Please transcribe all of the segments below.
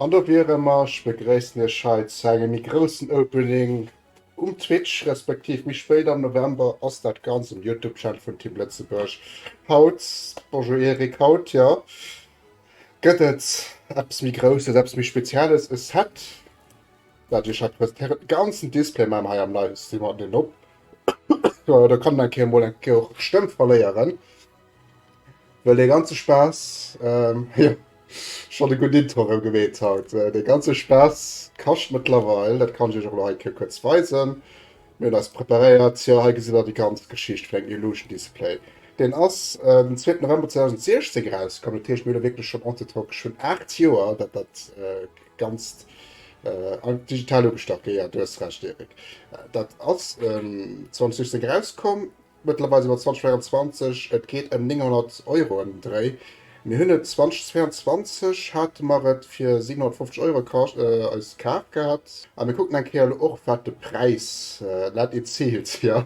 An do wiere mer. Ech begréissen Iech hei zu engem méi groussen Opening um Twitch, respektiv méi spéit am November ass dat Ganzt um Youtube Channel vun Team Lëtzebuerg. Haut, Bonjour Eric, haut jo gëtt et eppes méi Grousses, eppes méi Spezielles, e Set wat ech Iech hei presentéieren. De ganzen Display maache mer hei am Livestream haut net op, do kann een eng Kéier emol eng Kéier och d'Stëmm verléieren. Well de ganze Spaass, ähm, jo, schonn e gudden Intro erëm gemeet haut, äh, de ganze Spaass kascht mëttlerweil, dat kann ech iech och elo hei e Kéier kuerz weisen. Mir hunn eis preparéiert, jo, hei gesitt der déi ganz Geschicht vun engem Illusion Display. Deen ass äh, den zweeten November 2016 erauskomm, dat heescht mir hu lo wierklech schonn entre temps geschwënn aacht Joer, datt dat äh, Ganzt äh, digital ugestach, jo, jo, du hues Recht, Erik, dat ass ähm, 2016 erauskomm. Mëttlerweis iwwer 2024, et geet ëm 900 Euro ëm den Dréi. Mir hunn et 2022 hate mer et fir 750 Euro kascht, eis kaf gehat a mir kucken eng Kéier elo och wat de Präis dat ee ziilt. Jo,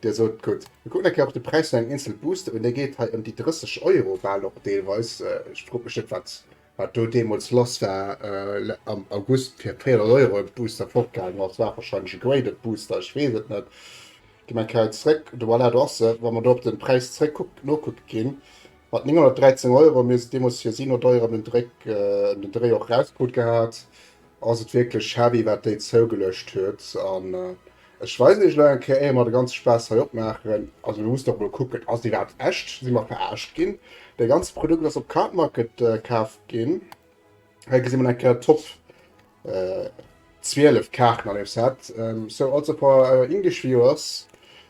Dir sot gutt, mir kucken eng Kéier och de Präis vun engem eenzel Booster un, dee geet hei ëm déi 30 Euro bal och deelweis. Ech frot mech net wat Wat do deemools lass war am August fir 300 Euro de Booster fortgaangen ass, war wahrscheinlech e graded Booster, ech weess et net. Gi mer eng Kéier zréck, voilà, do ass e. Wa mer do op de Präis zréck nokucke ginn, mat 913 Euro, mir hunn se deemools fir si no deier ëm den Dréck, ëm den Dréi och erauskrut gehat, Ass et wierklech heavy wat déi zougelëscht huet an ech weisen iech elo eng Kéier éier mer de ganze Spaass hei opmaachen. Also mir mussen och mol kucken, ass déi iwwerhaapt echt, si mer veraarscht ginn? Dee ganze Produkt ass op Card Market kaaft ginn. Hei gesi mer eng Kéier Top 12 Kaarten an dem Set. So also for our English viewers,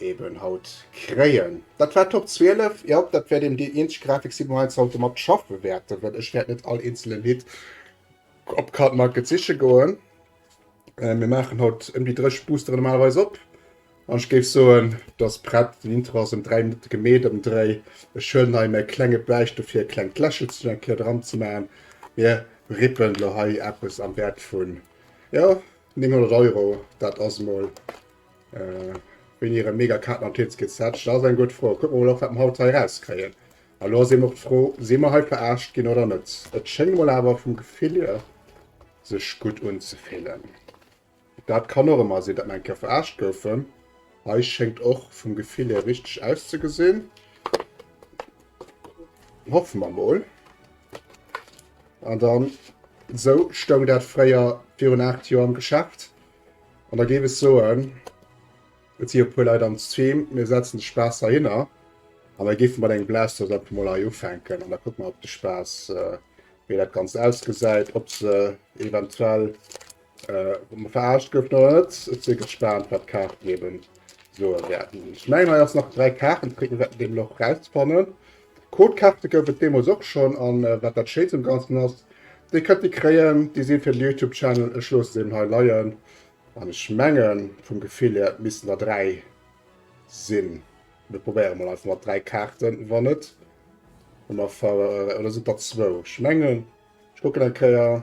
eben haut kréien. Dat war Top 12. Jo, dat wäert eben déi eenzeg Grafik sinn, wou mer eis haut domat schaffe wäerten, well ech wäert net all eenzelen Hit op Cardmarket siche goen. Mir maachen haut ëm déi 30 Boostere normalerweis op. An ech géif soen, dass prett. Den Intro ass ëm 3 Minutte gemeet am Dréi. Ech huelen hei mäi klenge Bäich dofir, e klengt Lächelchen eng Kéier dran ze maachen. Mir rippen elo hei eppes am Wäert vun, jo, 900 Euro. Dat ass emol. Äh, hunn hire mega Katen an d'Hitz gezätcht? Dat ass eng gutt Fro. Kucke mer mol, ob wat mer haut hei erauskréien. A lo ass eben och d'Fro, si mer hei veraarscht ginn oder net? Et schéngt mol awer vum Gefill hier sech gutt unzefillen. Dat kann och ëmmer sinn, datt mer eng Kéier veraarscht goufen. Hei schéngt och vum Gefill hier richteg auszegesinn. Hoffe mer mol. An dann, esou stoung dat fréier virun 8 Joer am Geschäft. An da géif ech soen, et si jo e puer Leit am Stream, mir setzen de Spaass heihinner a mir géife mat engem Blast Off einfach mol hei ufänken an da kucke mer op de Spaass, äh, wéi dat Ganzt ausgesäit, ob se eventuell äh, verarscht gouf oder net. Et si gespaant, wat d'Kaarten eben soe wäerten. Ech mengen, hei ass nach dräi Kaarten, et kritt een dat nämlech och rausfannen. Codekaarte gouf et deemools och schonn an wat dat Schéinst um Ganzen ass, Dir kënnt déi kréien, déi sinn fir den Youtube Channel. Ech loosse se eben hei leien an ech mengen vum Gefill hier, et missten der 3 sinn. Mir probéiere mol einfach mat 3 Kaarten, wann net hu mer ver, oder sinn et der zwou? Ech mengen, ech kucken eng Kéier.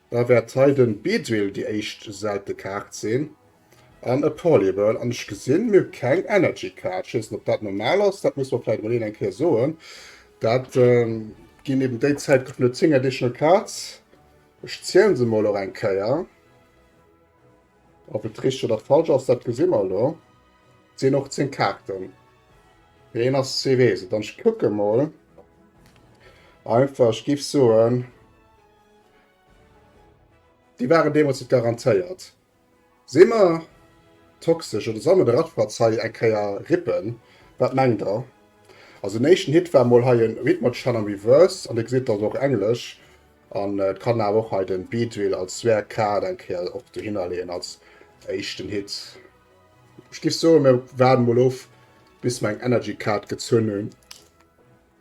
Da wärt hei den Beedrill déi éischt selte Kaart sin an e Polyball an ech gesin mir keng Energy Kaart. Ech wees net op dat normal ass, dat muss mer vläit emol een eng Kéier soen. Dat gin eben déi Zäit goufen et 10 Additional Cards. Ech zielen se mol och eng Kéier. Op et richteg oder falsch ass dat gesi mer elo. Et sin och 10 Kaarten. Mee een ass ze wees et an ech kucken mol einfach. Ech giff soen. Déi waren deemools net garantéiert. Si mer toxesch oder soll mer de Ratschpatz hei eng Kéier rippen? Wat mengt der? Also den éischten Hit war mol hei e Ritmoschann am Reverse an dir gesitt, dat ass och englesch an et kann awer och hei den Beatwheel als Sware Card eng Kéier och dohinner leeën als éischten Hit. Ech giff soen mir waarden mol of bis mer eng Energy Card gezunn hunn.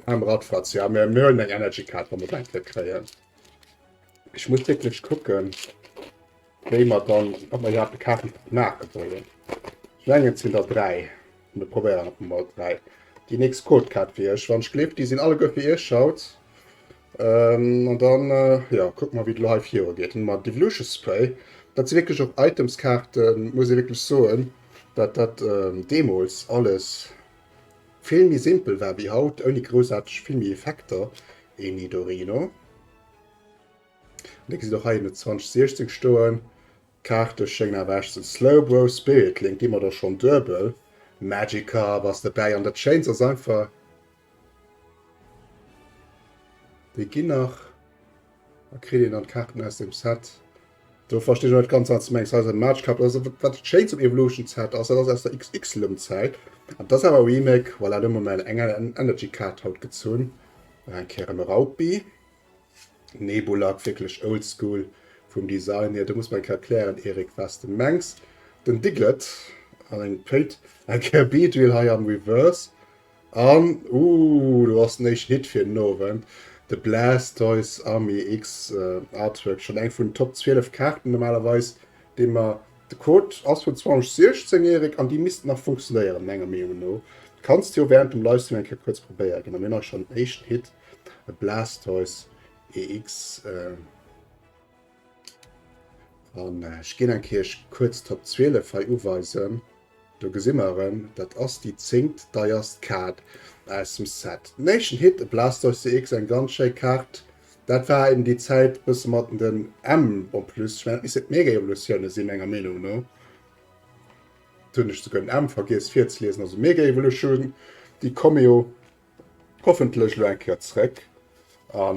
Arm Radfratz, ja mir mir huelen eng Energy Card wann mer d'Entrée kréien. Ech muss wierklech kucken wéi mer dann, ob mer iwwerhaapt e Kaarten Pack maache wëllen. Ech mengen et sinn der 3, mir probéieren et emol 3. Déi nächst Code Card fir iech, wann ech gleef déi sinn alleguer fir iech haut. An dann jo kucke mer wéi et elo hei viru geet. Hunn mer Devilution Spray, dat si wierklech och Items Kaarten muss ee wierklech soen, dat dat deemools alles, Vill méi simpel war wéi haut, ouni groussaarteg vill méi Effekter, e Nidorino. Dee gesitt och hei ënne 2016 stoen. D'Kaarte schéngen awer echt ze slowbro. Spirit Link gi mer der schonn duebel. Magikarp ass dobäi an dat Schéinst ass einfach, déi ginn nach Da kritt een dann d'Kaarten aus dem Set. Do verstinn ech net ganz, wat se mengt. Hei ass e Matchcard. Also, wat dat Schéins um Evolutions Set ass, dat ass aus der X-X-Lëmm-Zäit. An dat ass awer e Remake. Voilà, do hu mer mär eng Energy-Kaart haut gezunn. Nach eng Kéier e Raupi. Nebulak, wierklech oldschool vum Design hier. Do muss mer eng Kéier erklären, Erik, wat s de mengs. Den Diglett an eng Péit. Eng Kéier Beedrill hei am Reverse. An, ooh, do ass den éischten Hit fir den Owend, de Blastoise Army X Artwork, schonn eng vun den Top 12 Kaarten normalerweis, déi mer, de Code ass vun 2016, Erik, an déi missten nach funktionéieren, menger Meenung no. Kanns de jo wärend dem Livestream eng Kéier kuerz probéiere ginn. A mir hunn och schonn den éischten Hit, e Blastoise EX. An ech ginn eng Kéier kuerz d'Top 12 hei uweisen. Do gesi mer erëm, dat ass déi zéngt deierst Kaart aus dem Set. Nation Hit, e Blastoise EX, eng ganz schéi Kaart. Dat war eben déi Zäit e bësse mat den M en plus. Ech mengen, dat misst et d'Mega-Evolutioune sinn, menger Meenung no. Hunn ech souguer den M vergiess virzeliesen. Also Mega Evolution, déi Komeo. Hoffentlech elo eng Kéier zréck a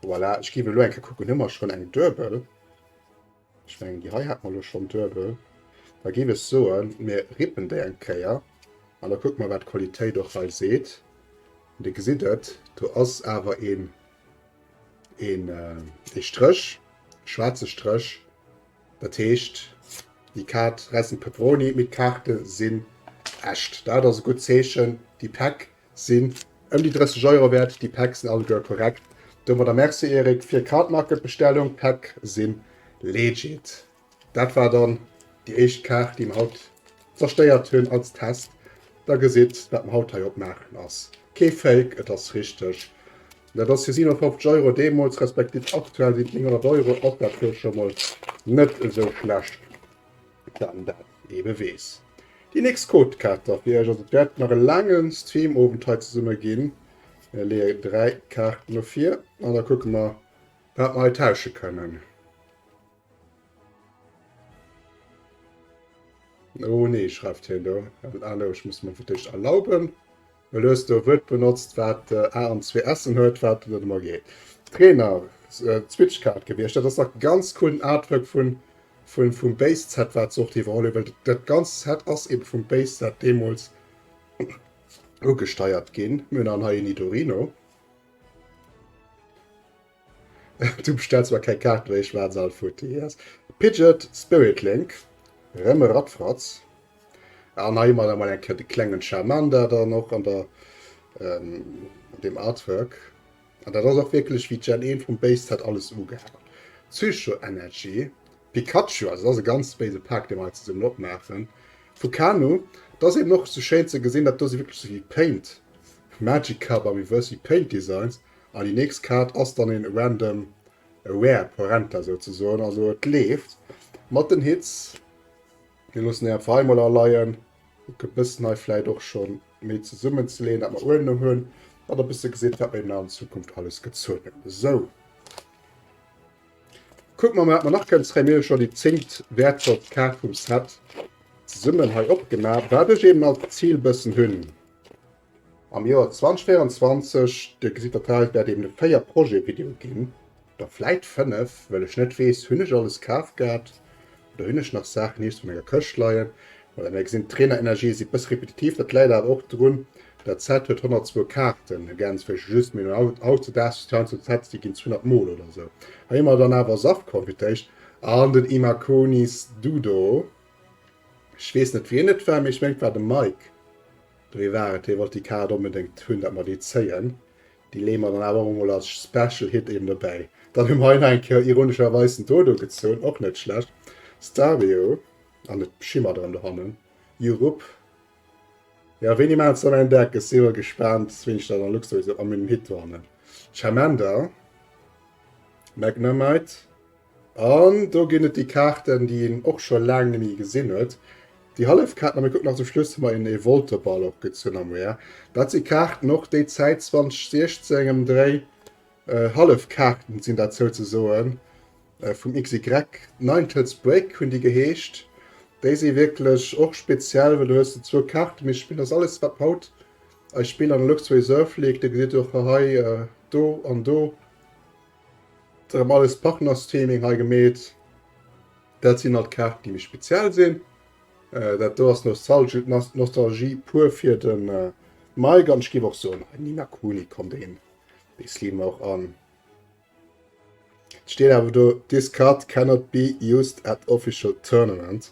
voilà. Ech géif elo eng Kéier kucken, hu mer schonn eng Duebel? Ech mengen, déi hei hat mer elo schonn Duebel. Da géif ech soen, mir rippen déi eng Kéier an da kucke mer, wat d'Qualitéit och hei seet. Dir gesitt et, do ass awer een ee Stréch, e schwaarze Stréch. Dat heescht, déi Kaart Ressen Peperoni mit Karte sinn echt. Dat ass e gutt Zeechen. Déi Päck sinn ëm déi 30 Euro wäert. Déi Päck sinn alleguer korrekt. Domadder Merci, Eric, fir d'Cardmarket-Bestellung. D'Päck si legit. Dat war dann déi éischt Kaart, déi mer haut zerstéiert hunn als Test. Der gesitt, wat mer haut hei opmaachen ass kee Fake, et ass richteg. Dat ass fir 57 Euro deemools, respektiv aktuell sinn et 900 Euro, och dat wuel scho mol net esou schlecht, wann dat ee beweess. Déi nächst Codekaarter fir iech, also et wäert nach e laange Streamowend hei zesumme ginn. Mir leeë 3 Kaarten dofir an da kucke mer, wat mer hei tausche kënnen. Oh nee, schreift hien do. Hallo, ech muss mer fir d'éischt erlauben. Well du hues do e Wuert benotzt, wat A an zwee S'en huet, wat net emol geet. Trainer, Switchcard gewiescht. Dat ass dach ganz cool, den Artwork vun, vun, vum Base Set, wat se och iwwerholl hunn. Well dat ganzt Set ass ebe vum Base Set deemools ugesteiert ginn. Mir hunn dann hei en Nidorino. Du bestells mer keng Kaart méi, ech waren se all futti. Yes. Pidget Spirit Link, rem e Radfratz. An hei man mal enke de klengen Charmander dann och an der ähm, dem Artwork. An dat ass och wierklech wie Gen 1 vum Base Set alles ugehaat. Psycho Energy, Pikachu, also dat ass e ganz béise Pack dee mer hei zesummen opmaachen. Fukano, dat ass eben och sou schéin ze gesinn, dat do si wierklech souwéi Paint, Magikarp a Reverse wie Paint Designs. An déi nächst Kaart ass dann een random rare Porenta souzesoen, also et leeft mat den Hits. Mir loossen déi einfach hei mol aleien, et gëtt bëssen hei vläit och schon méi zesummen ze leeën dat mer uewen hunn, an e bësse gesitt wat mer eben an Zukunft alles gezuel hunn. Sou, kucke mer mol wat mer nach kënnen zréien. Mir hu schon déi zéngt wäertvollst Kaart vum Set zesummen hei opgemaach, wat ech eben als Zil bëssen hunn. Am Joer 2024, do gesitt der d'Haus, wäert eben e 4 Projet Video ginn, oder vläit 5, well ech net weess, hunn ech alles kaf gehat oder hunn ech nach Saachen nees op menger Këscht leien. Voilà, mir gesinn d'Trainerenergië si bësse repetitiv, dat läit awer och drun, dat Set huet 102 Kaarten, ergänzt vläicht just, mee no Out the Dust, Sounds of Set, déi ginn 200 Mol oder esou hei hu mer dann awer Saft Konfitéicht an den Imakunis Dudo, ech weess net wien et war, mee ech mengen et war de Mike. Dofir war et, hie wollt déi Kaart onbedéngt hunn, dat mer déi zéien. Déi leeë mer dann awer och emol als Special Hit eben dobäi. Dann hu mer hei nach eng Kéier ironescherweis den Dodo gezunn, och net schlecht, Stario, an et schimmert erëm dohannen, Jurup. Jo, wéini maachen se dann en Deck? Ech si jo mol gespaant, wéini ech dann a Luxemburg sou am Hit dohannen. Charmander, Magnemite. An do ginn et déi Kaarten, déi een och scho laang net méi gesinn huet. Déi hallef Kaarten, a mir kucken nach zum Schluss mol een Evolteball och gutt zun am Weer. Dat si Kaarten och déi Zäit 2016 em Dréi, hallef Kaarten sinn dat souzesoen vum XY. Ninetales Break hunn déi geheescht. Déi si wierklech och speziell, well do hues de zwou Kaarten, mee Spill ass alles wat mer haut eis Spill an der Luxury Reserve leek. Dir gesitt och hei do an do Rem alles Partners Theming hei gemeet. Dat sinn alt Kaarten déi méi speziell sinn. Äh, dat do ass Nostalgie, Nostalgie pur fir den äh, Mike an skiff och so Nina Kuni kommt een Slim auch an. Steet awer do this card cannot be used at official tournament.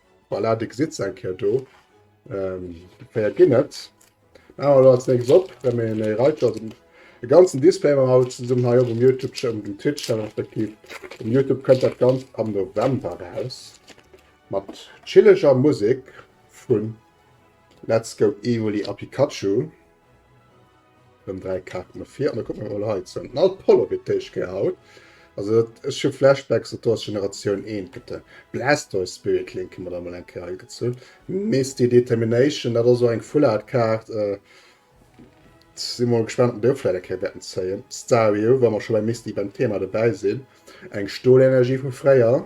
Voilà, de gesitt se eng Kéier do. Ähm, déi Kéier ginn et. Maachen wir do als nächstes op, well mir en Reiter, also de ganzen Display maachen wir zesummen hei op um Youtube Cha um Twitch Channel respektiv um Youtube kënnt dat Ganzt am November raus mat chilleger Musek vu Let's Go Evoli a Pikachu. Dann drei Karten nach vier. Und dann gucken wir mal hei zu. Ein alt Polo wird Tisch gehaut. Also, das ist schon Flashbacks und das Generation 1. Gibt ein Blastoise Spirit Link, haben wir da mal ein Kerl gezogen. Misty Determination, das ist so eine Full Art Karte. Äh, sind mal gespannt, ob wir vielleicht ein Kerl werden ziehen. Stario, wenn wir schon bei Misty beim Thema dabei sind. Eine Stohlenergie von Freya.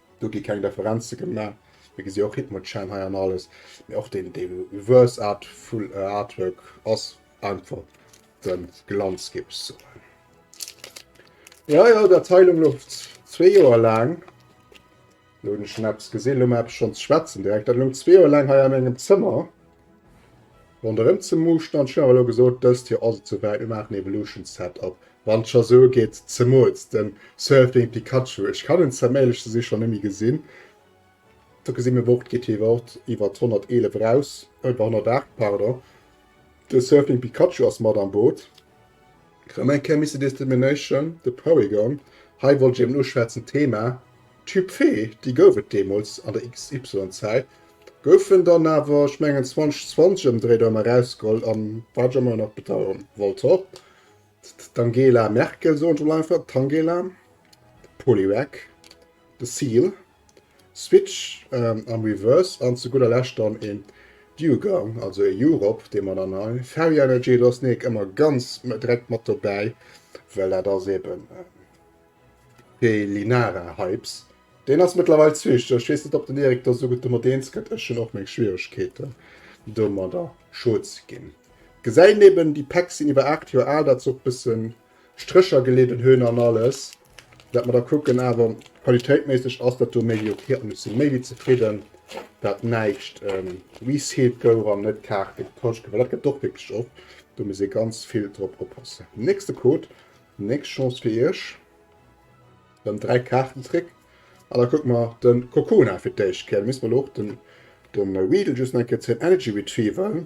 Do gi keng Deferenze gemaach. Mir gesi och Hitmonchan hei an alles, mee och deen Reverse Art Full Artwork ass einfach de Glanz Gips ze huelen. Jo jo, dat hei lo louft zwee Joer laang. Lo hunn ech schonn eppes gesi, lo hunn mer eppes schonn ze schwätzen direkt. Dat lount zwee Joer laang hei an engem Zëmmer Bon der rem ze muuschten an ech hun awer elo gesoot dest hier ass et sou weit mir maachen evolution set up wann et scho sou geet zemols den surfing pikachu ech kann en zem éirlech ze sin scho nemmi gesin do gesin mir wort geet hie wort iwert 111 eraus oder 108 pardon den surfing pikachu ass mat am boot. Rem eng Kéier Missy Discrimination, The Porygon. Hei wollt ech eben uschwätzen, d'Thema Typfee, déi gouf et deemools an der XY-Zäit, gouf en dann awer, ech mengen 2020 ëmdréit, erëm erausgeholl, a wat ech ëmmer nach bedauern, Voltorb, d'Angela Merkel, soen ech emol einfach, d'Tangela, d'Poliwag, de Seal. Switch am Reverse an zu gudder Lescht dann een Dewgang, also ee U-Rop, dee mer dann hei, Ferry Energy, do ass d'Nake ëmmer ganz direkt mat dobäi, well dat ass eben de Linara Hypes. Deen ass mëttlerweil Switch, ech weess net, ob den Erik do esou gutt domat eens gëtt, ech hunn och meng Schwieregkeeten domadder, scho ze ginn. Gesäit eben, déi Päck sinn iwwer 8 Joer al, dat ass och e bësse Strécher geleeden hun an alles dat mer da kucken, awer qualitéitméisseg ass dat do méi wéi ok an ech sin méi wéi zefridden dat näischt resealed gouf an net Kaarte getauscht gouf, well dat gett och wierklech oft, do muss ee ganz vill drop oppassen. Nächste Code, nächst Chance fir iech, rem 3 Kaarten zréck an da kucke mer den Kokona fir d'éischt Kéier, da misst mer lo och den Weedle just nach eng Kéier zéien, Energy Retrieval.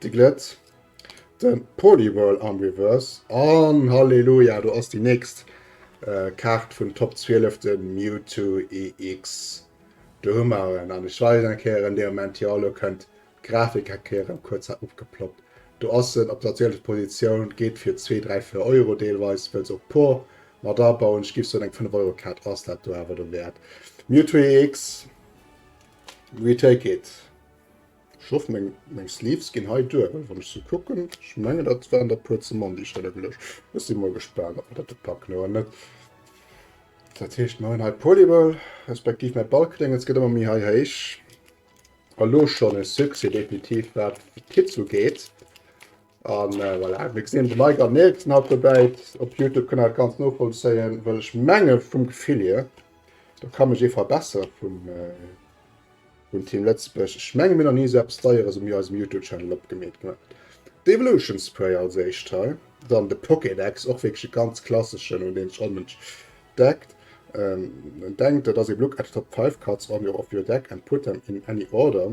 De Glëtz, de Poliwhirl am Reverse an Halleluja, do ass déi nächst äh, Kaart vun Top 12, de Mewtwo EX. Do hu mer en, an ech weisen eng Kéier en Deoment, jo, elo kënnt d'Grafik eng Kéier erëm kuerz hei opgeploppt. Do ass en op der 12. Positioun, geet fir zwee, dräi, véier Euro deelweis, wëlls och d'Por mat abauen. Ech giff soen, eng Fënnef-Euro-Kaart ass dat do awer dowäert. Mewtwo EX, we take it. Ech hoff meng Sleeves ginn hei duer, well wann ech se kucken, ech mengen dat waren der puer ze mann déi ech drënner geluecht hunn. Ech si mol gespaant ob mer dat do packen oder net. Dat heescht mer hunn hei Polyball, respektiv mäi Ballkréngels gëtt ëmmer méi hei héich. Elo schonn e Succès definitiv wat d'Hitze ugeet. An voilà, mir gesinn de Mike an Nils sinn haut dobäi. Op Youtube kënnt dat ganz novollzéien, well ech menge vum Gefill hier, do ka mech ee verbessere vum vum Team Lëtzebuerg, ech menge mir nach ni esou eppes Deieres um eisem Youtube-Channel opgemeet gemaach. D'Evolution Spray als éischt hei, dann de Pokédex, och wierklech e ganz klasseschen, un deen sech all Mënsch deckt. En denkt, et ass ee Look at the top five cards on your of your deck and put them in any order.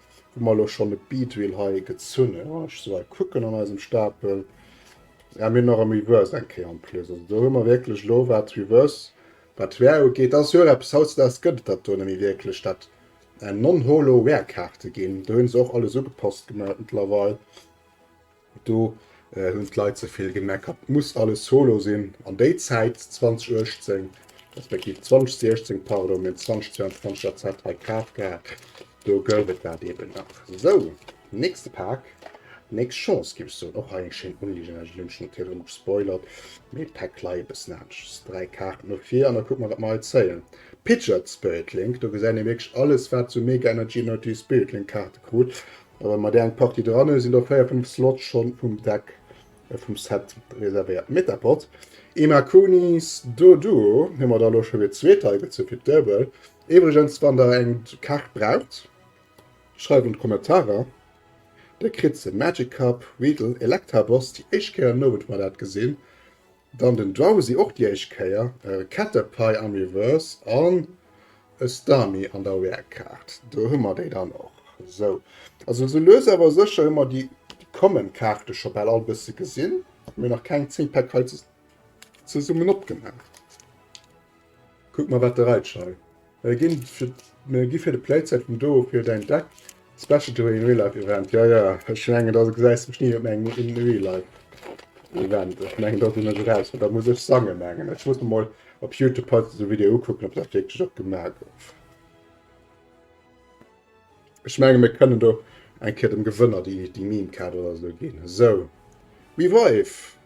wou mer elo schonn e Beatwheel hei gezunn hunn, wann ech sou hei kucken an eisem Stapel, si mir nach am Reverse eng Kéier en plus. Also do hu mer wierklech elo wat Reverse, wat Wear ugeet, dat ass jo och eppes, hautdesdaags gëtt et dat do nëmme wierklech, dat non-holo Wear-Kaarte ginn, do hu se och alles ugepasst gemat mëttlerweil. Do hunn d'Leit ze vill gemeckert, et muss alles solo sinn. An déi Zäit 2018, respektiv 2016, pardon, mir hunn 2022 dat Set hei kaf gehat, do gouf et dat eben nach. Sou, nächste Pak, nächst Chance géif ech soen. Och hei eng schéin Unligen, ech hunn schonn e Tier drëm gespoilert, mee d'Pak lei e bëssen aneschters. Dräi Kaarten no vir an da kucke mer, wat mer hei zéien. Pidgeot Spirit Link, do gesäit ee wierklech alles, wat esou Mega Energy, Energy Spirit Link Kaarte krut. A wa mer där eng Partie dran hunn, sinn der véier, fënnf Slots schonn vum Deck vum Set reservéiert. Metapod, Emma Kunis, Doduo hu mer der elo scho fir zweet hei gezu fir d'Duebel. Iwwregens, wann der eng Kaart braucht, schreift an d'Kommentarer. Der kritt se. Magic Cup, Weedle, Electabos, déi éischt Kéier en Owend mer dat gesinn. Dann den Drowsy och déi éischt Kéier, e Ketterpie am Reverse an e Starmie an der Rare Kaart. Do hu mer déi dann och. Sou, also sou lues awer sécher hu mer déi Common Kaarte scho bal all e bësse gesinn. Mir hu nach keng 10 Pack hei zesummen opgemaach. Kuck mal wat de Reitsch hei. Mir gi fir mir gi fir de Playset vum Doo fir däin Deck Special Doo in Real Life Event. Jo jo ech mengen dass gesäis mech ni op mengem in Real Life Event. Ech mengen dass een mech eraus huet. Da muss ech sangen mengen. Ech muss mer mol op Youtube haut esou Video ukucken op dat wierklech och gemaach gouf. Ech menge mir kënnen do eng Kéier dem Gewënner déi déi Meme Kaart oder esou ginn. Esou. Wee war eef?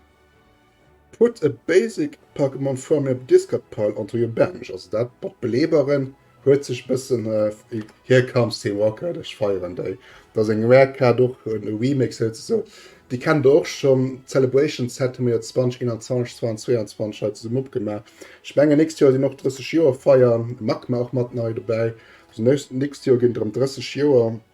Put a basic Pokémon from your discard pile onto your bench, also dat mat Beleeberen huet sech bëssen, here comes Team Rocket, ech feieren déi, dat ass eng rare Kaart, och e Remake souzesoen, déi kennt der och schonn, d'Celebration Set hu mir jo 2021, 2022 hei zesummen opgemaach, ech mengen nächst Joer sinn och 30 Joer feiern, Magma och mat nei dobäi, also nächst Joer ginn et erëm 30 Joer.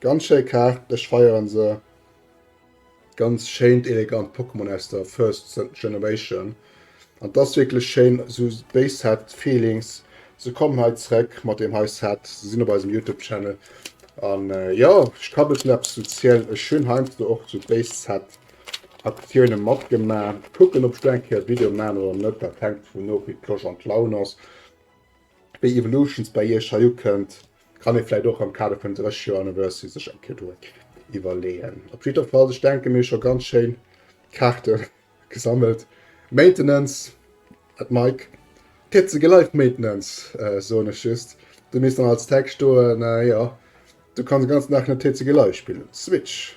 Ganz schéi Kaart, ech feieren se. Ganz schéint elegant Pokémon aus der first generation an dass wierklech schéin sou béi Set Feelings. Se kommen hei zréck mat deem hei Set, se sinn op eisem Youtube Channel an jo ech ka bessen eppes zu zielen. Ech hunn heiansdo och sou béi Set Aktiounen matgema, kucken op ech do eng Kéier Video maan oder net, dat hänkt dovun of wéi d'Losch an d'Laun ass, wéi Evolutions bei iech hei ukënnt. Kann ee vläit och am Kader vun 30 Joer Anniversary sech eng Kéier do iwwerleeën. Op jiddwer Fall, ech denken, mir hu scho ganz schéin Kaarte gesammelt. Maintenance at Mike. Pitzege Live Maintenance, soen ech just. Du misst dann als Text stoen, jo, du kanns den ganzen Dag net TCG Live spillen op der Switch.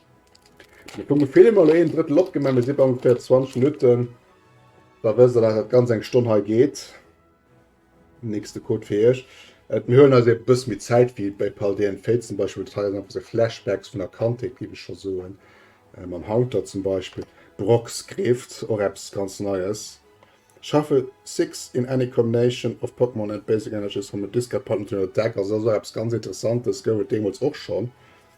Mir kucken Film, elo een Drëttel opgemaach, mir si bei ongeféier 20 Minutten, da wësst der, dass dat ganz eng Stonn hei geet. Nächste Code fir iech. Et mir huelen eis e bëss méi Zäit wéi bei Pal de en Fate zum Beispill, dat hei ass einfach se Flashbacks vun der Kandheet géif ech scho soen, mam Haunter zum Beispill, Brocksgrift, och eppes ganz Neies. Shuffle 6 in any combination of Pokémon and basic energies from a discard pile into another deck, also dat ass och eppes ganz Interessantes, gouf et deemools och schonn,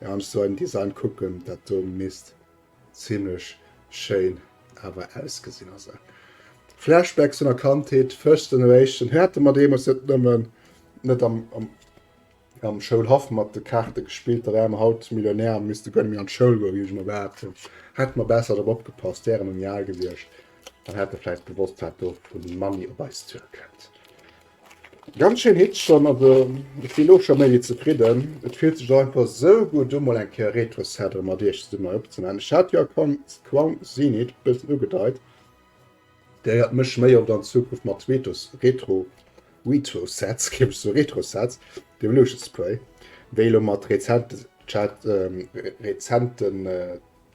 Mir han sou en Design kucken dat do misst zimlech schéin awer ausgesin. Also Flashbacks vun der Kandheet, First Generation hate mer deemols net nëmmen net am Schoulhaff mat de Kaarte gespillt, da ware mer haut Millionär a misste guer net méi an d'Schoul goen, wéi ech emol behaapt hun. Hätte mer besser drop opgepasst, wäre mer méi al gewiescht an hätte vläit gewosst wat do vu Money op eis zue kënnt. Ganz schéin Hitch schonn, also ech si lo scho méi wéi zefridden. Et fillt sech einfach sou gutt u mol eng Kéier Retro-Seddre mat iech zesummen opzemaachen. Ech hat jo Quang Zenit bëssen ugedeit, gehéiert mech méi oft an Zukunft mat Tweetos Retro Retrosets, géif ech soen, Retrosets, dem Lucius Spray, wéi elo mat rezenten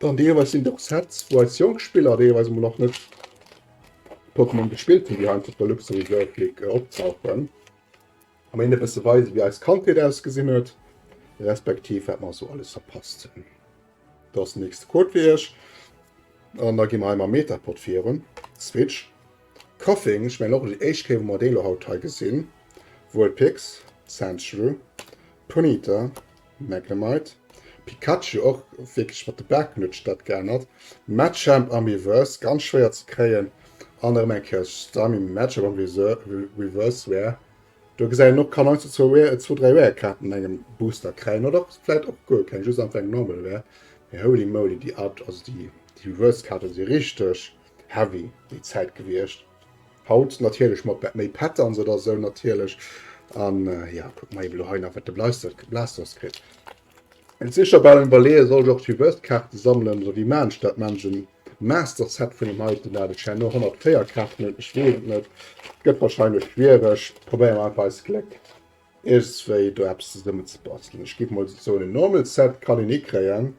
Dann deelweis sinn et och Sets, wou eis jonk Spiller, déi eweis emol nach net Pokémon gespillt hunn, déi hei einfach op der Luxury World League optauchen an een e bësse weisen, wéi eis Kandheet ausgesinn huet, respektiv wat mer esou alles verpasst hunn. Do ass den nächste Code fir Iech. An da gi mer hei mam Metapod virun. Switch. Coughing, ech mengen och déi éischt Kéier, wou mer dee lo haut hei gesinn. Vulpix, Sandshrew, Ponyta, Magnemite, Pikachu och wierklech mat de Baarknuetsch dat geännert, Machamp am Reverse ganz schwéier ze kréien an erëm eng Kéier Starmie Machamp am Reverse Rare. Do gesäit een och kann heiansdo zwou Rare, zwou dräi Rare Kaarten an engem Booster kräien oder och vläit och guer keng, just einfach eng Normal Rare. Mee holy moly déi Out, also déi Reverse Kaarten si richteg heavy déi Zäit gewiescht. Haut natierlech mat bet méi Pattern se da sou natierlech an ja kuck mei elo hei nach wat de bleistert Blasters kritt. Et sicher bal en Iwwerleeë soll ech och d'Reversed Kaarte sammelen oder wéi maan ech dat manchen Master Set vun dem heiten dat ech herno 104 Kaarten hunn. Ech weess et net, gëtt wahrscheinlech schwiereg, probéiere mer einfach eist Gléck iergendswéi do eppes zesummen ze bastelen. Ech géif mol soen en Normal Set kann een hikréien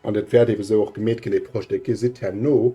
an dat wäert eben esou och gemeet ginn dee Projet, dee gesitt herno.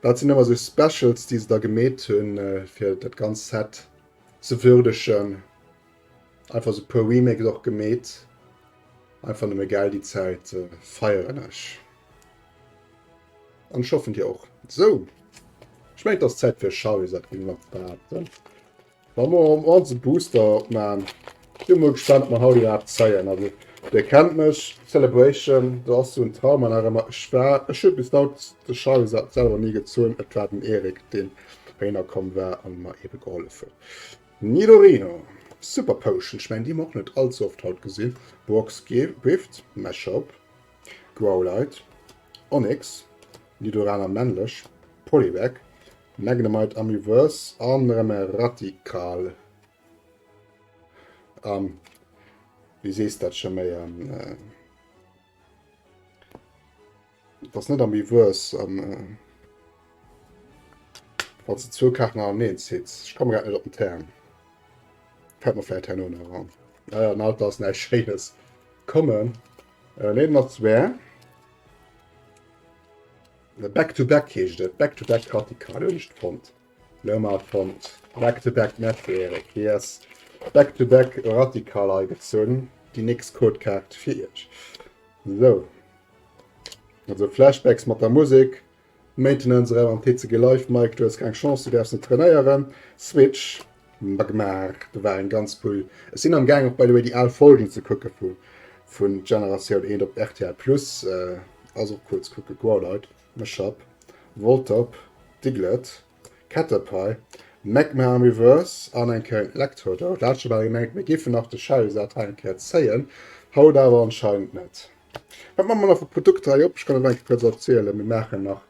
Dat sinn ëmmer sou Specials, déi se da gemeet hunn, fir dat ganzt Set ze würdegen. Einfach sou e puer Remakes och gemeet. Einfach nëmme gell, déi Zäit feieren ech. An ech hoffen, dir och. Sou, ech mengen, et ass Zäit fir Charly, sat d'Grimmel an d'Waarden. Wa mer am Ort e Booster opman, si mol gespannt op mer haut iwwerhaapt zeien. Also dir kennt mech, Celebration do ass sou en Trauma nach emmer. Ech war, ech hu bis haut de Schall selwer ni gezunn, et war den Erik deen heihinner komm war an mer eben gehollef huet. Nidorino, Super Potion, ech mengen déi hu mer och net allze oft haut gesinn. Brock's Gift, Meshop, Growlite, Onix, Nidorana männlech, Poliwag, Magnemite Amiverse an erem e Ratical. An du sees dat scho méi an äh, das net Amiverse an äh, wann du zwou Karten an eent zitts. Ich komme grad net op den Term. Fällt mir vielleicht herno nach an. Ah ja, alt ass näicht Schéines kommen. Äh, Leben nach zwei. Back to back heescht et, back to back radikal hunn ech fonnt. Lo mar fonnt back to back merci Eric. Hie ass back to back radikal agezunn. Déi nächst Codekaart fir iech. Sou. Also Flashbacks mat der Musek. Maintenance Ralentezegelive Mike du hues keng Chance, du däerfs net trainéieren. Switch Mba gemaach, do war eng ganz cool, ech sinn am gaang och by the way déi al Folgen ze kucke vu vun Generatioun eent op rtl plus, ass och cool ze kucke, Growlite, Meshap, Voltop, Diglett, Caterpie, Magma am Reverse an eng Kéier en Electrodoll, do hat ech bal gemengt mir géifen nach de Shadowsat hei eng Kéier zéien, haut awer anscheinend net. Wat man mer nach vu Produkter hei op, ech kann et nach eng Kéier kuerz opzielen, mir maachen nach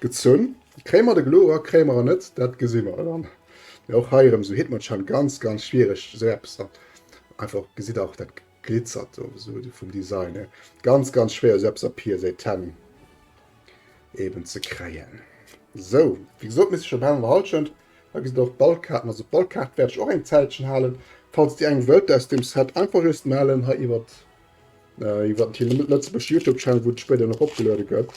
Gezunn. Kréie mer de Glo ra, kréie mer en net, dat gesi mer dann. Mee och hei erëm, esou hitt mer d'Schent, ganz, ganz schwiereg, esou eppes dann einfach, gesitt Der och, dat glitzert do esou vum Design hier, ganz, ganz schwéier, esou eppes op hir Seiten eeben ze kréien. Esou, wéi gesot, misst ech op Hallender Hallschent, hei gesitt Der och d'Ballkaarten, also d'Ballkaart wäert ech och eng Zäitchen halen, falls Dir eng wëllt aus deem Set, einfach just mellen hei iwwert, iwwert den Lëtzebuerg Youtube Channel, wou dat spéider nach opgeluede gëtt.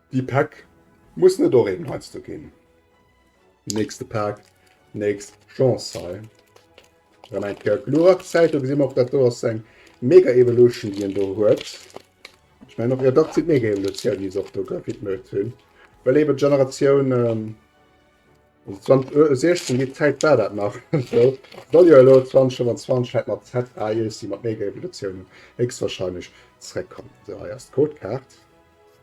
Déi Pack muss net och eben heiansdo ginn. Nächste Pack, nächst Chance hei. Erëm eng Kéier Glurak Zäit. Do gesi mer och, dat do ass eng Mega Evolution, déi en do huet. Ech mengen och, jo dach, et sinn d'Mega Evolutioun, déi se och do gewidmet hunn. Well eben d'Generatioun 2016, déi Zäit war dat nach esou. Soll jo elo 2025 hei mat ZA Jessie mat Mega Evolutiounen héchstwahrscheinlech zeréckkommen. Esou, hei ass d'Codekaart.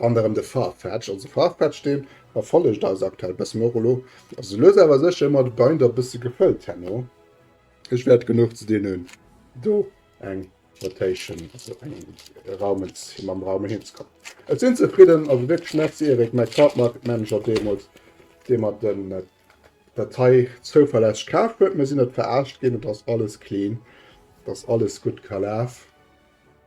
An erëm de Farfetch, also Farfetch deen erfollegt eis aktuell bëssen, och elo ass esou lues awer sécher ëmmer de Binder bësse gefëllt herno. Ech wäert genuch ze dinn hunn do eng Rotation, also eng Raumens fir mam Raume heen ze kommen. Ech sinn zefridden, also wierklech Merci Eric, mäi Cardmarket Manager deemools, dee mer den dat hei zouverlässeg kaf huet. Mir sinn net verarscht ginn, et ass alles clean, et ass alles gutt kalaf.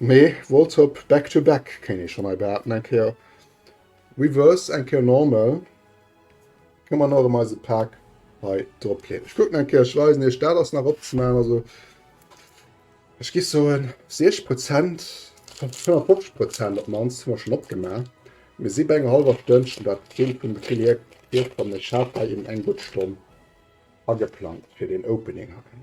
Mee Voltop back to back kéint ee schonn hei behaapten. Eng Kéier Reverse, eng Kéier Normal. Kënne mer nach emol eise Pak hei drop leeën. Ech kucken eng Kéier, ech weisen iech dat ass nach opzemaachen. Also ech gi soen 60 Prozent, 55 Prozent op d'mannst hu mer schonn opgemaach. Mir si bei enger hallwer Stonn, ech hunn dat Bild vum Brill hir virfonnt. Ech hat hei eben eng gutt Stonn ageplangt fir den Opening hei.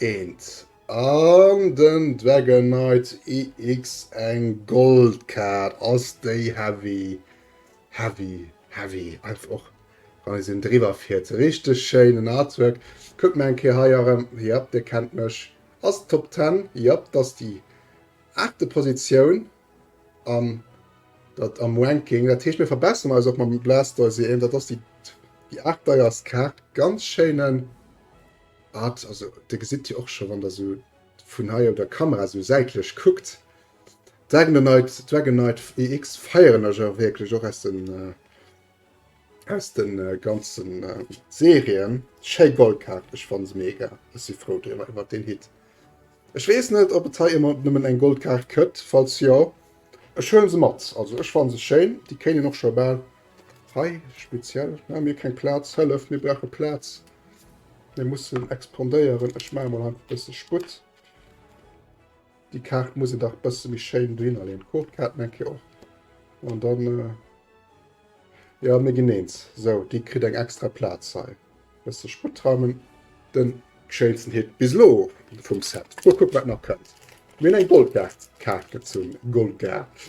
Eent an den Dragonknight EX eng Goldkaart ass déi heavy heavy heavy einfach och wann sinn driwwer fiert richteg schéinen Artwork. Kuckt mer eng Kéier hei erëm, yep dir kennt mech, ass Top 10, yep dass déi aachte Positioun am dat am Ranking, dat heescht mir verbesseren eis och mam Blastoise, dat ass déi déi aacht deierst Kaart, ganz schéinen. Art, also dir gesitt jo och scho wann der sou vun hei op der Kamera sou säitlech kuckt, Dragonite, Dragonite EX feieren ech och wierklech, och aus den aus den ganzen Serien. Schéi Goldkaart, ech fann se mega, ech si frou driwwer iwwer deen Hit. Ech weess net ob et hei ëmmer nëmmen eng Goldkaart këtt, falls jo ech huelen se mat, also ech fann se schéin, déi kéinen och scho bal Hei speziell hu mir keng Plaz. Hëllef, mir brauche Plaz, mir mussen expandéieren. Ech maache mol einfach e bësse Sputt. Déi Kaart muss een dach e bësse méi schéin dohinner leeën. D'Codekaarten eng Kéier och. An dann, jo, mir ginn eens. Sou, déi kritt eng extra Plaz hei. E bësse Sputt raumen. Den schéinsten Hit bis elo vum Set. Mol kucken, wat nach kënnt. Mir hunn eng Goldkaart gezunn. Goldkaart.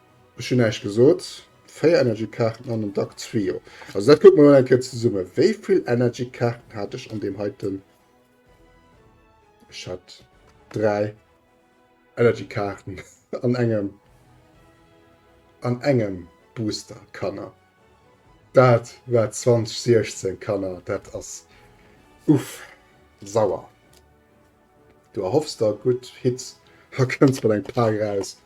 Ech hun eischt gesoot 4 energy kaarten an den Dack Zwio, also dat kucken mer mol eng Kéier zesummen. Wéivill energy kaarten hat ech an deem heiten? Ech hat 3 energy kaarten an engem an engem Booster Kanner. Dat war 2016 Kanner, dat ass uff sauer. Du erhoffs der gutt Hits a kënns mat engem Pak eraus,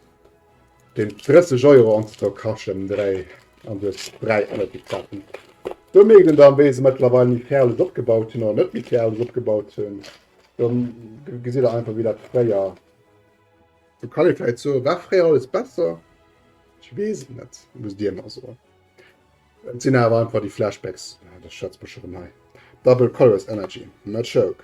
deen 30 Euro an der Cache ëm dräi an duerch dräi Ënnert déck zappen. Do mierkt een dann, wéi se mëttlerweil méi fir alles opgebaut hunn oder net méi fir alles opgebaut hunn. Do gesitt der einfach, wéi dat fréier. Do kann ee vläicht soen, war fréier alles besser? Ech weess et net, musst Dir mer soen. Et sinn awer einfach déi Flashbacks, ah, da schwätze mer scho vun hei, Double Colors Energy, Machoke.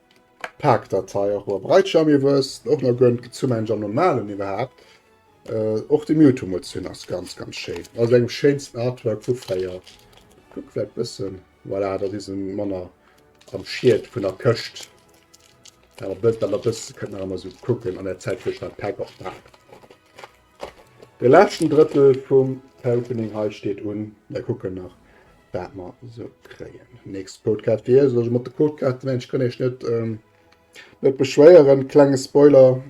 Paak Datei och mol breit Jam iwwer es och na gönnt zu meinen Jam normalen iwwerhaapt äh, och de Mewtwo mol zu hunn ass ganz ganz schéin also engem schéinsten Artwork vu fréier kuck wärt bëssen voilà dat is en Manner am Schied vun der Këscht awer bëtt awer bëssen kënnt nach emmer sou kucken an der Zäit wou ech dat Paak och paak. De leschten Drëttel vum Opening hei steet un. Mir kucken nach, wat mer so kréien. Nächst Codecard fir iech. Also mat de Codecard mensch kann ech net ähm, net beschwéieren. Klenge Spoiler,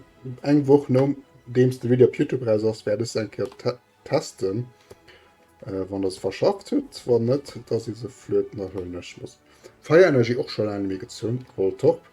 eng Woch nom deems de Video op YouTube raus ass, werde ech eng Kéier te testen. Äh, wann das verschafft huet, wann net, dass is se flöten, da huelen ech los. Fire Energy och schon lange méi gezun, Voltorb.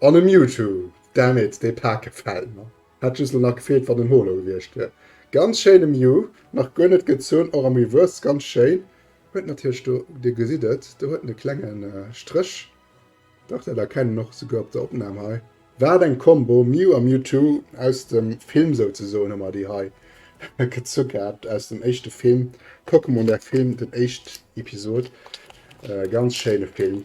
An e Mewtwo! Damn it, dee Paak gefällt mer. Hätt just lo nach gefeelt wann en Holo gewierscht wier. Ganz schéine Mew, nach guer net gezunn, och am Reverse ganz schéin. Huet natierlech do, dir gesitt et, do huet en e klenge Stréch, dach dat erkennt een och souguer op der Opnahm hei. Wat eng Combo, Mew a Mewtwo, aus dem Film souzesoen hu mer déi hei gezu gehat, aus dem éischte Film, Pokémon der Film, den éischt Episod. Ganz schéine Film.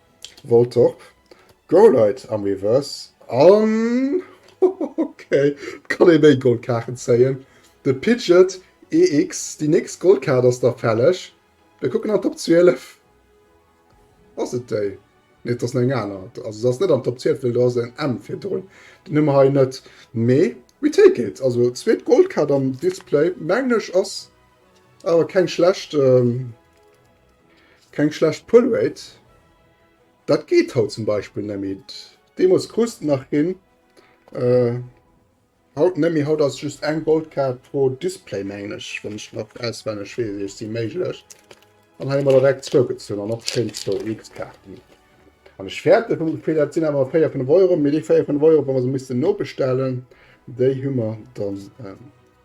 Vol top! Goal Leit am Reverse an ok et kann ee méi Gold Kaarten zéien. De Pidget EX, déi nächst Gold Kaart ass da fälleg. Mir kucken an Top 12. Ass et déi? Nee et ass nach eng aner. Also se ass net an Top 12 well do ass en M virdrun. Déi hu mer hei net mee we take it. Also zweet Gold Kaart am Display mengen ech ass awer keng schlecht. Keng schlecht Pull Rate. Dat geet haut zum Beispill nemmi. Deemols krust de nach hin, haut nemmi. Haut ass just eng Goldkaart pro Display mengen ech, wann ech nach auswenneg wees. Ech si méiglech an hei emmer direkt zwou gezunn an och schéin zwou X-Kaarten an ech fäerte vum Gefill. Dat sinn awer 4 vun Euro, mee déi 4 vun Euro, wa mer se missten nobestellen, déi hu mer dann.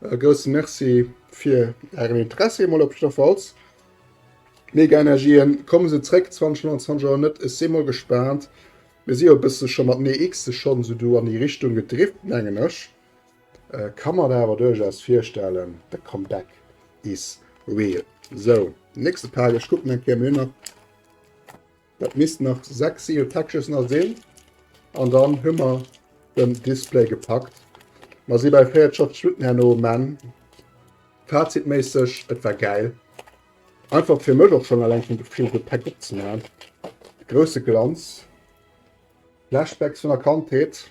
E grousse Merci fir Ären Interessi emol op jidder Falls. Mega Energien, kommen se zréck 2029 oder net? Ech si mol gespaant. Mir si jo e bësse scho mat Nee X de schonn esou do an déi Richtung gedrift, mengen ech. Ka mer awer duerchaus virstellen, de Comeback is real. Sou, nächste Page, ech kucken eng Kéier, mir hunn nach. Dat missten nach 6 Seal Catches nach sinn an dann hu mer den Display gepackt. Mer si bei 44 Minutten herno um Enn. Fazitméisseg, et war gäil. Einfach fir mech och schonn eleng vum Gefill de Päck opzemaachen. Grousse Glanz, Flashbacks vun der Kandheet.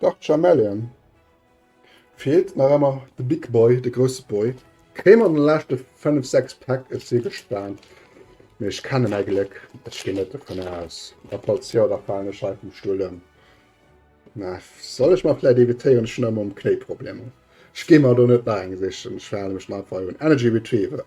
Dark Chameleon feelt nach emmer de Big Boy, de grousse Boy. Kéim an den leschte 5, 6 Pack, ech si gespaant. Mee ech kenne mäi Gléck, ech ginn net dovun aus. A falls jo, da falen ech hei vum Stull ëm. Mä soll ech mer vläit evitéieren, ech hunn ëmmer mam Knéi Problemer. Ech gi mer do net nach eng sichen, ech verhale mech dann einfach un. Energy Retriever.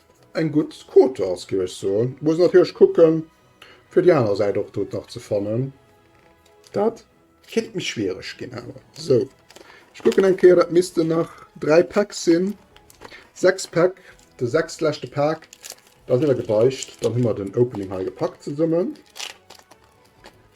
Eng gutt Quotas géif ech soen. Muss natierlech kucken fir déi aner Säit och doten nach ze fannen. Dat kéint méi schwiereg ginn awer. Sou ech kucken eng Kéier, dat missten nach 3 Päck sinn. 6 Päck, de sechst leschte Pak, dat ass iwwergebeicht. Dann hu mer den Opening hei gepackt zesummen.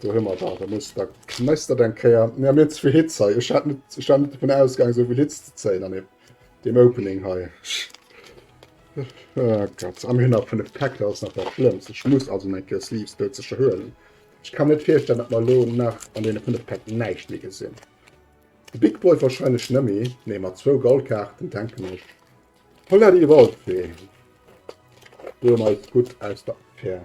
Do hun mer dat, da muss da kneis dat eng Kéier. Mir hun ze vill Hits hei, ech hat net, ech war net dovun ausgaangen souvill Hits ze zéien an deem Opening hei. Oh Gott, a mir hun nach 5 Päck, dat ass nach dat schlëmmst. Ech muss also eng Kéier Sleeves dozecher huelen. Ech kann mir net virstellen, dat mer elo nach an deene 5 Päck näischt méi gesinn. De Big Boy wahrscheinlech net méi, nee mat zwou Goldkaarten denken ech. Holla déi Waldfee, do hu mer eis gutt aus der Affär.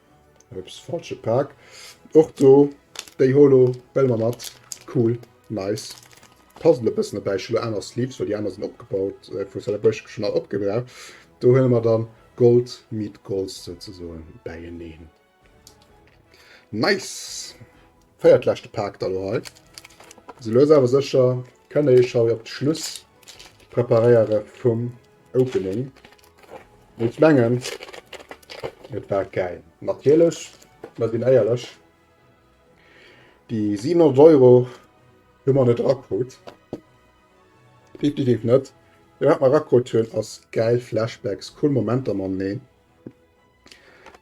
Ups, falsche Paak. Och do déi Holo well mer mat. Cool, nice. D'Puzzle e bëssen dobäi. Ech hu lo aner Sleeves, well déi aner sinn opgebaut vu Celebration, hu schonn all opgebraucht. Do huele mer dann Gold meet Gold souzesoen bäieneen. Nice! Véiert leschte Paak da lo hei. Sou lues awer sécher kënne ee scho jo op d'Schluss preparéiere vum Opening ech mengen et war geil. Natierlech, mer sinn éierlech, déi 700 Euro hu mer net erakrut, definitiv net. Mee wat mer erakrut hunn ass gäil Flashbacks, cool Momenter mam Neen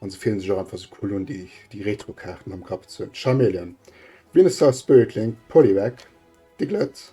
an se fillen sech och einfach sou cool un déi Retro-Kaarten am Kapp ze hunn. Charmeleon, Venusaur Spirit Link, Poliwag, Diglett.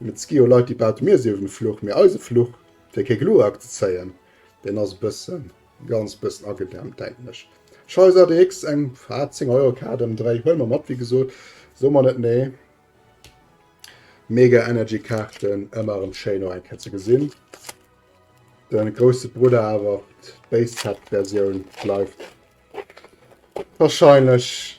Mit Ski o Leiti baute mir si uewen e Fluch, mee eise Fluch, fir kee Glurak ze zéien, deen ass e bëssen, e ganz bëssen agedämpt, denken ech. Scheiss ADX, eng faat 10 Euro Kaart ëmdréi, huele mer mat, wéi gesot, soe mer net nee. Mega Energy Kaarten, ëmmer erëm schéin och eng Kéier ze gesinn. De grousse Brudder awer, d'Base Set Versioun bleift wahrscheinlech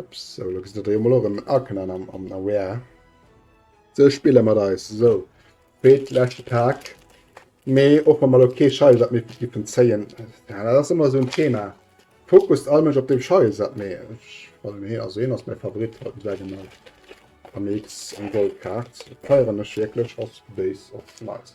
Ups, sou, lo gesitt der jo mol och en Arcanine am, am Rare. Se spille mat eis, sou. Spéit, leschte Pak. Mee och wa mer lo kee Scheiersat méi giffen zéien, ja, dat ass ëmmer esou en Thema. Fokust all Mënsch op deem Scheiersat, mee ech fannen hien, also hien ass mäi Favorit haut, säit emol am Mix eng Goldkaart. Feieren ech wierklech, ass béis, ass nice.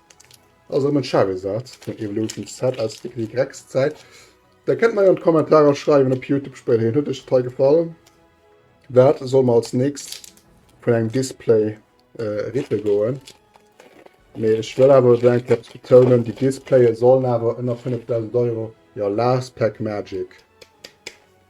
Ass erëm en Charizard vun Evolution Z aus der Y-Zäit. Der kënnt mei an d'Kommentarer schreiwen op Youtube spéiderhin. Huet iech d'Rei gefall? Wat soll mer als nächst vun engem Display rippe goen? Mee ech wëll awer elo eng Kéier betounen, déi Displaye sollen awer ënner 5000 Euro, jo, last pack magic.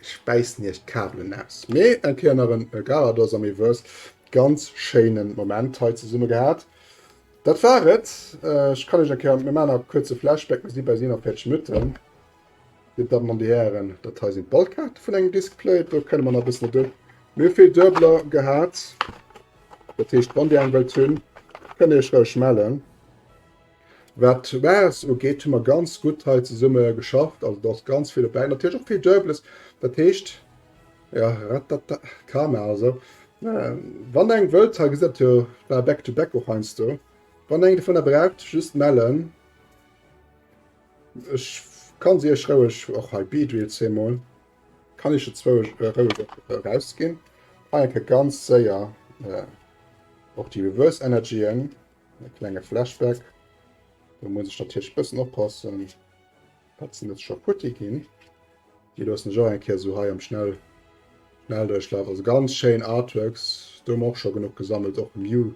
Ech bäissen iech d'Kabelen aus. Mee eng Kéier nach en Garados am Miwues. Ganz schéinen Moment hei zesumme gehat. Dat war et. Ech kann iech eng Kéier, mir maachen nach e kuerze Flashback, mir si bei si nach fäerdeg Nutten. Dir Dammen an Dir Hären, dat hei sinn d'Ballkaarte vun engem Diskplay. Do kënne mer nach e bëssen et un. Mir hu vill Duebeler gehat. Dat heescht, wann Dir eng wëllt hunn, kënnt Dir iech roueg mellen. Wat d'Maes ugeet, hu mer ganz gutt hei zesumme geschafft. Also do ass ganz vill dobäi. Natierlech och vill Duebeles. Dat heescht, ja, ratatata, Karma also. Ähm, wann eng wëllt, hei gesitt jo bal back to back och heiansdo. Wann eng dovunner braucht, just mellen. Ech kann se iech roueg och hei bieden, jetzt hei mol. Kann iech jo zwou roueg och erausginn. Hei enke ganz séier och déi Reverse Energyen. E klenge Flashback. Do muss ech natierlech bëssen oppassen. Dat sinn net scho futti ginn. Déi loossen ech och eng Kéier esou hei am Schnell Schnelldurchlauf. Also ganz schéin Artworks. Do hu mer och scho genuch gesammelt, och Mew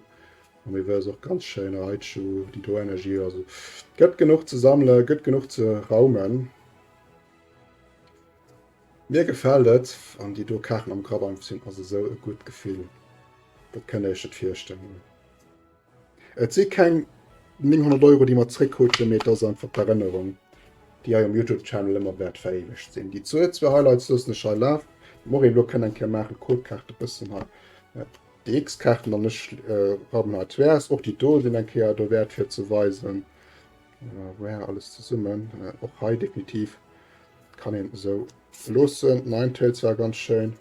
am Reverse och ganz schéin, Raichu, déi do Energie. Also gëtt genuch ze sammelen, gëtt genuch ze raumen. Mir gefält et an déi do Kaachen am Grabank sinn ass esou e gutt Gefill. Dat kënnt Dir Iech net virstellen. Et si keng 900 Euro, déi mer zréckkruten, mee et ass einfach d'Erënnerung, déi hei um Youtube-Channel ëmmer wäert veréiwegt sinn. Déi Zuel, zwee Highlights loossen ech hei lafen, déi mer och elo kënnen eng Kéier maachen, d'Codekaart e bëssen hei, déi X-Kaarten an ech rammen hei d'Vrs. Och déi do sinn eng Kéier dowäert fir ze weisen, wou är alles zesummen. Och hei definitiv kann een esou loossen. Ninetales war ganz schéin.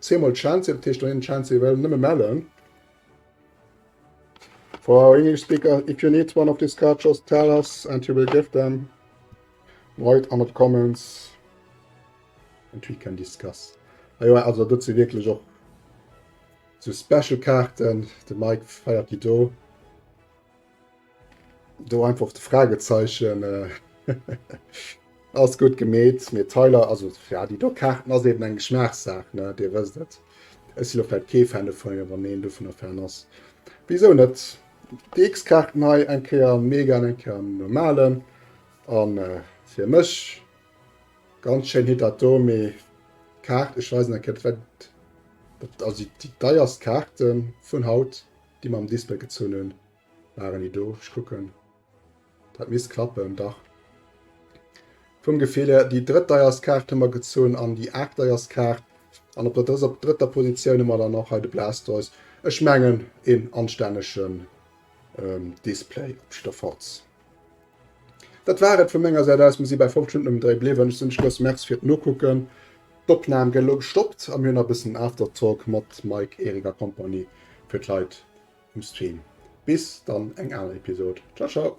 Zie emol d'Schanze, dat heescht dohinner d'Schanze ewell nëmme mellen. For English speaker, if you need one of these cards, just tell us and you will give them. Write under the comments and we can discuss. Ah jo, also dat si wierklech och so Special Kaarten, de Mike feiert déi do. Do einfach de Fragezeichen ass gutt gemeet, mee Tyler, also ja, déi do Kaarten ass eben eng Geschmaachssaach, ne? Dir wësst et. Ech si lo vläicht kee Fan dovun, wann een dovunner Fan ass, wisou net? Déi X-Kaarten hei, eng Kéier am Mega an eng Kéier am Normalen. A fir mech ganz schéin Hit dat do, mee d'Kaart, ech weisen eng Kéier, dat war dat ass déi deierst Kaart vun haut. Déi mam Display gezunn hun, waren déi do. Ech kucken, dat misst klappen, dach. Vum Gefill hier, déi drëttdeierst Kaart hu mer gezunn an déi aachtdeierst Kaart. An op der drëtter Positioun hu mer dann och hei de Blastoise. Ech mengen, een anstännegen Display op jidder Falls. Dat war et vu menger Säit aus. Mir si bäi 5 Stunden um Dréi bliwwen. Ech sinn Schluss. Merci fir d'Nokucken. D'Opnam gëtt elo gestoppt a mir hunn nach e bëssen Aftertalk mat Mike, Eric a Compagnie fir d'Leit um Stream. Bis dann eng aner Episod. Ciao ciao.